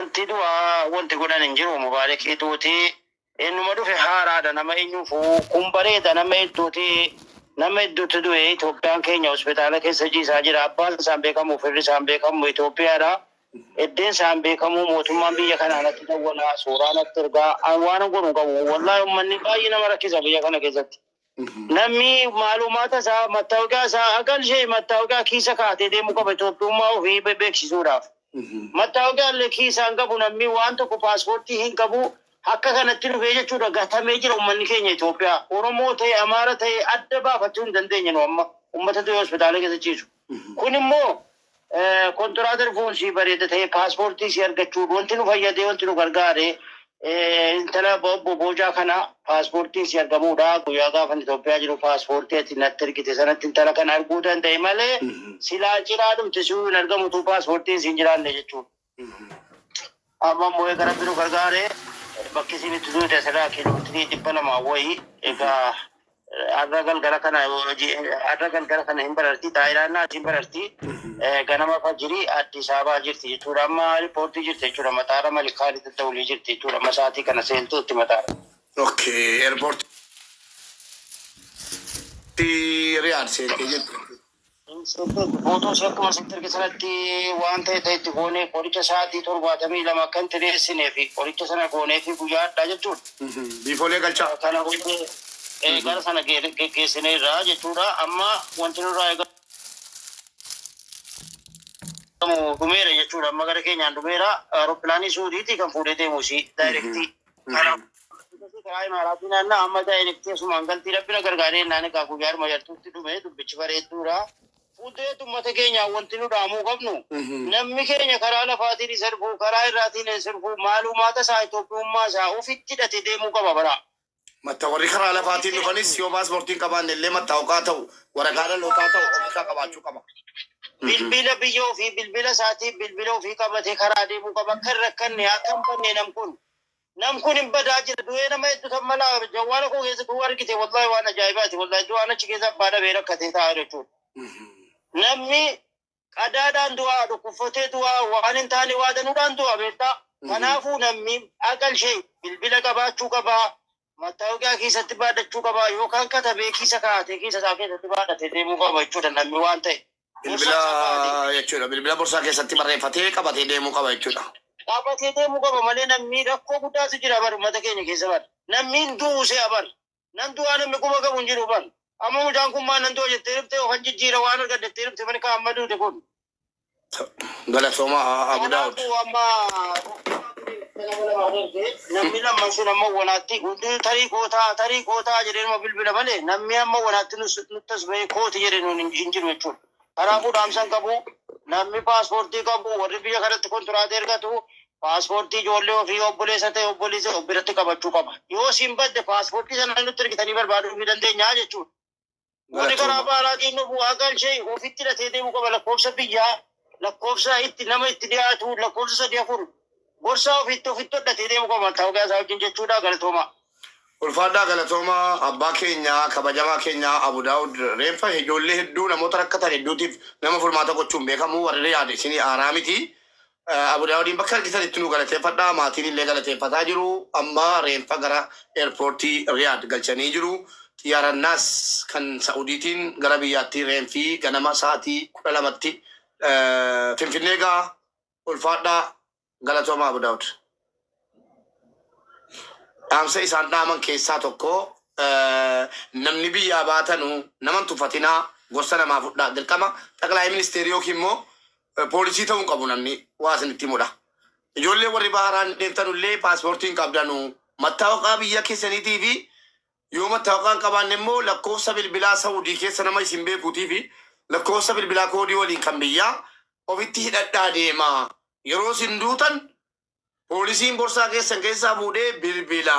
Wanti du'a wanti godhan hin jiru mubaarekii duuti ennuma dhufe haaraadha nama enyufu kun bareeda nama hedduuti nama hedduutti du'e Itoophiyaan keenya hospitaala keessa jiisaa jira abbaan isaan beekamu firri isaan beekamu Itoophiyaadha eddeen isaan beekamu mootummaan biyya kanaa natti dawwala suuraa natti ergaa an waanan godhu hin qabu wallaahi ummanni baay'ee nama rakkisa biyya kana keessatti Namni maalumaata isaa mattaawoqaa isaa akka ishee mattaawoqaa kiisa kaatee deemuu qaba Itoophiyummaa ofii be- beeksisuudhaaf. Mattaawoqaa illee kiisaan qabu namni waan tokko paaspoortii hin qabu akka kanatti dhufee jechuudha gatamee jira ummanni keenya Itoophiyaa. Oromoo ta'e Amaara ta'e adda baafachuu hin dandeenye nu amma ummata du'e hospitaala keessa ciisu. Kun immoo kontiraatar foon sii bareeda ta'ee paaspoortii sii argachuun wanti nu fayyadee wanti nu gargaare intala obbo Boojaa kana paaspoortiin sii argamuudha. Guyyaa gaafa Itoophiyaa jiru paaspoortii ati natti ergite sanatti intala kana arguu danda'e malee silaa cinaa dhumti siyuu hin argamu utuu paaspoortiin siin jiraanne jechuudha. Amma immoo egaa rabbi nu gargaare bakki isin itti duute asirraa kiiloomeetirii dhibba lama wayii egaa arra galgala kana hojii arra galgala kana hin bararti taayilaannaa hin bararti ganama fajirii Addis Ababaa jirti jechuudha amma riippoortii jirti jechuudha mataara malikaanii tatta'ulii jirti jechuudha amma sa'aatii kana seentuutti mataara. Okay, airport. Riyadh seentee jirti. Guutuu ishee akkuma sitti erge sanatti waan ta'e ta'e itti goonee qoricha sa'aatii torbaatamii lama akka hin xireessinee fi qoricha sana goonee fi guyyaa hadhaa jechuudha. Biifoolee galchaa. Kana booddee eh, gara sana ge- geggeessineerra jechuudha. Amma wanti nurraa eegamu dhumeera jechuudha. Amma gara keenyaan dhumeera. Aeroppilaanii Suudiitii kan fuudhee deemu ishii daayirektii. Akkasii karaa imaaraatii naannaa amma daayirekt teessumaan galtii rabbina gargaaree innaan egaa guyyaa arma yartuutti dhume dubbichi bareedduudha. Fuuldureetti uummata keenyaa wanti nu dhaamuu qabnu namni keenya karaa lafaatiin hin sirbu karaa irraatiin hin sirbu maaluumaata isaa Itoophiyummaa isaa ofitti hidhatee deemuu qaba bara. Matta warri karaa lafaatiin dhufanis yoo paaspoortiin qabaanne illee mattaawqaa ta'u Waraqaa dhalootaa ta'u of irkaa qabaachuu qaba. Bilbila biyya ofii bilbila isaatii bilbila ofii qabatee karaa adeemuu qaba. Akka hin rakkanne akka hin banne nam kun. Nam kun hin badaa jira. Du'ee nama hedduu tan mala jawwaala koo keessa du'uu argite wallahi waan ajaa'ibaati. Wallahi du'aan achi keessa abbaa dhabee rakkatee taa'aa jechuudha. Namni qadaadhaan du'a, dhukkubfatee du'a, waan hin taane waa danuudhaan du'a beektaa. Kanaafuu namni aqal ishee bilbila qabaachuu qaba, mattaawoqiyaa keessatti baadhachuu qaba yookaan katabee kiisa kaa'atee kiisa isaa keessatti baadhatee deemuu qaba jechuudha namni waan ta'e. Bilbila jechuudha. Bilbila borsaa keessatti barreeffatee qabatee deemuu qaba jechuudha. Qabatee deemuu qaba malee namni rakkoo guddaatu jira bar uummata keenya keessa bar. Namni hin du'u se'a bar. Nan du'aa namni quba qabu hin jiru bar. Amma mucaan kun maa nan du'a jettee dhufte yookaan jijjiira waan argadde jettee dhufte mani kaa amma duute kun. Galatooma Abu Daawud. Kanaafuu amma nama lama adeemte namni lamman sun amma wanaatti hunduu tarii kootaa tarii kootaa jedhee nama bilbila malee namni amma wanaatti nus- nutti as bahee kooti jedhe nuun hin hin jiru jechuudha. Kanaafuu dhaamsan qabu namni paaspoortii qabu warri biyya kanatti kontiraata ergatu paaspoortii ijoollee ofii obboleessa ta'e obboleessa of biratti qabachuu qaba. Yoo siin badde paaspoortii sana nutti ergitanii barbaaduu ni dandeenya jechuudha. Warri karaa baaraatiin dhufu haqaan ishee ofitti hidhatee deemuu qaba lakkoofsa biyyaa lakkoofsa itti nama itti dhiyaatu lakkoofsa sadii afur Gorsaa ofiitti ofitti hodhatee deemu qaba mattaawoqiyaa isaa wajjin jechuudha galatoomaa. Ulfaadhaa galatooma abbaa keenya kabajamaa keenya Abu Daawud reenfa ijoollee hedduu namoota rakkatan hedduutiif nama furmaata gochuun beekamu warri Riyaad isinii haaraa miti Abu Daawudiin bakka argitanitti nuu galateeffadhaa maatiin illee galateeffataa jiru amma reenfa gara eerpoortii Riyaad galchanii jiru xiyyaara Naas kan Sa'udiitiin gara biyyaatti reenfi ganama sa'atii 12tti Finfinnee ga'a Ulfaadhaa Galatoomaa Abu Daawud. Dhaamsa isaan dhaaman keessaa tokko namni biyyaa baatanu naman tuffatinaa gorsa namaa fudhaa dirqama xaqlaayii ministeerii yookiin immoo poolisii ta'uu hin qabu namni waa isinitti himudha. Ijoollee warri baharaan deemtanullee paaspoortii hin qabdanu mattaawaqaa biyya keessaniitii fi Yoo mattaawqaa hin qabaanne immoo lakkoofsa bilbilaa Sa'udii keessa nama isin beekuutii fi lakkoofsa bilbilaa koodii waliin kan biyyaa ofitti hidhadhaa deemaa. Yeroo isin duutan poolisiin borsaa keessan keessaa fuudhee bilbila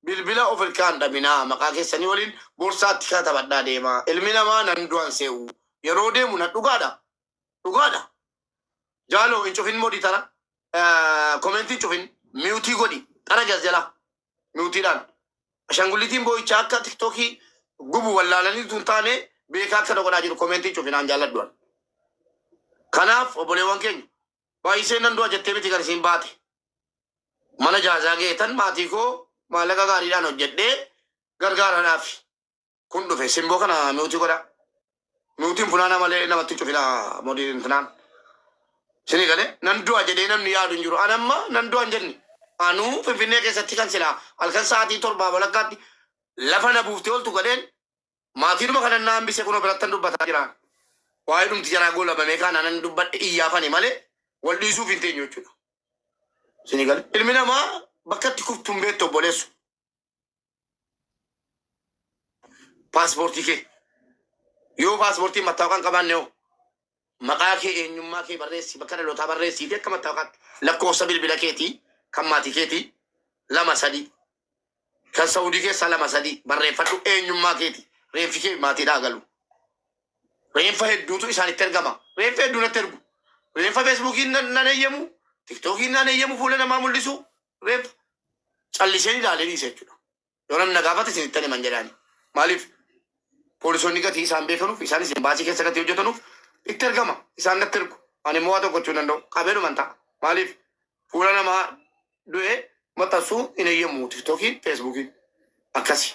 bilbila of irkaa hin dhabinaa. Maqaa keessanii waliin borsaatti katabadhaa deemaa. Ilmi namaa nan du'an se'u yeroo deemu na dhugaadha? Dhugaadha? Jaalo hin cufin modi tara comment hin cufin mute godhi tara jas jalaa. nuutiidhaan. Ashangullitiin boo'ichaa akka tiktookii gubu wallaalanii tun taane beekaa akka na godhaa jiru komeentii cufinaan jaalladhuan. Kanaaf obboleewwan keenya baay'isee nan du'a jettee miti kan isiin baate. Mana jaazaa geetan maatii koo maallaqa gaariidhaan hojjedhee gargaaradhaafi. kun dhufe simboo kana miutii godha miutiin funaana malee namatti hin cufina modii intinaan sini gale nan du'a jedhee namni yaadu hin jiru anamma nan du'a hin jenni anuu finfinnee keessatti kan silaa halkan sa'aatii torbaa walakkaatti lafa na buuftee oltu gadheen maatiinuma kanan na hambise kunoo birattan dubbataa jiraan waa'ee dhumti jaraa goolabamee kaanaa nan dubbadhe iyyaafani malee wal dhiisuuf hin teenyu jechuudha sini gale ilmi namaa bakka itti kuftu hin beektu obboleessu Paaspoortii kee yoo paaspoortii mattaawaqaa hin qabaanne hoo maqaa kee eenyummaa kee barreessi bakka dhalootaa barreessii fi akka mattaawaqaatti lakkoofsa bilbila keetii kan maatii keetii lama sadii kan sa'udii keessaa lama sadii barreeffadhu eenyummaa keeti reenfi kee maatiidhaa galu reenfa hedduutu isaanitti ergama reenfa hedduu natti ergu reenfa feesbuukiin nan nan eeyyamu tiktookiin nan eeyyamu fuula namaa mul'isu tureef calliseen ilaalee dhiise jechuudha. Yoo namni na gaafate isin ittan himan jedhaani. Maaliif poolisoonni gatii isaan beekanuuf isaanis imbaasii keessa gatii hojjetanuuf itti ergama isaan natti ergu. Ani immoo waa tokko gochuu hin danda'u qabeedhuman ta'a. Maaliif fuula namaa du'ee maxxansuu hin eeyyammu tiktookiin feesbuukiin akkasi.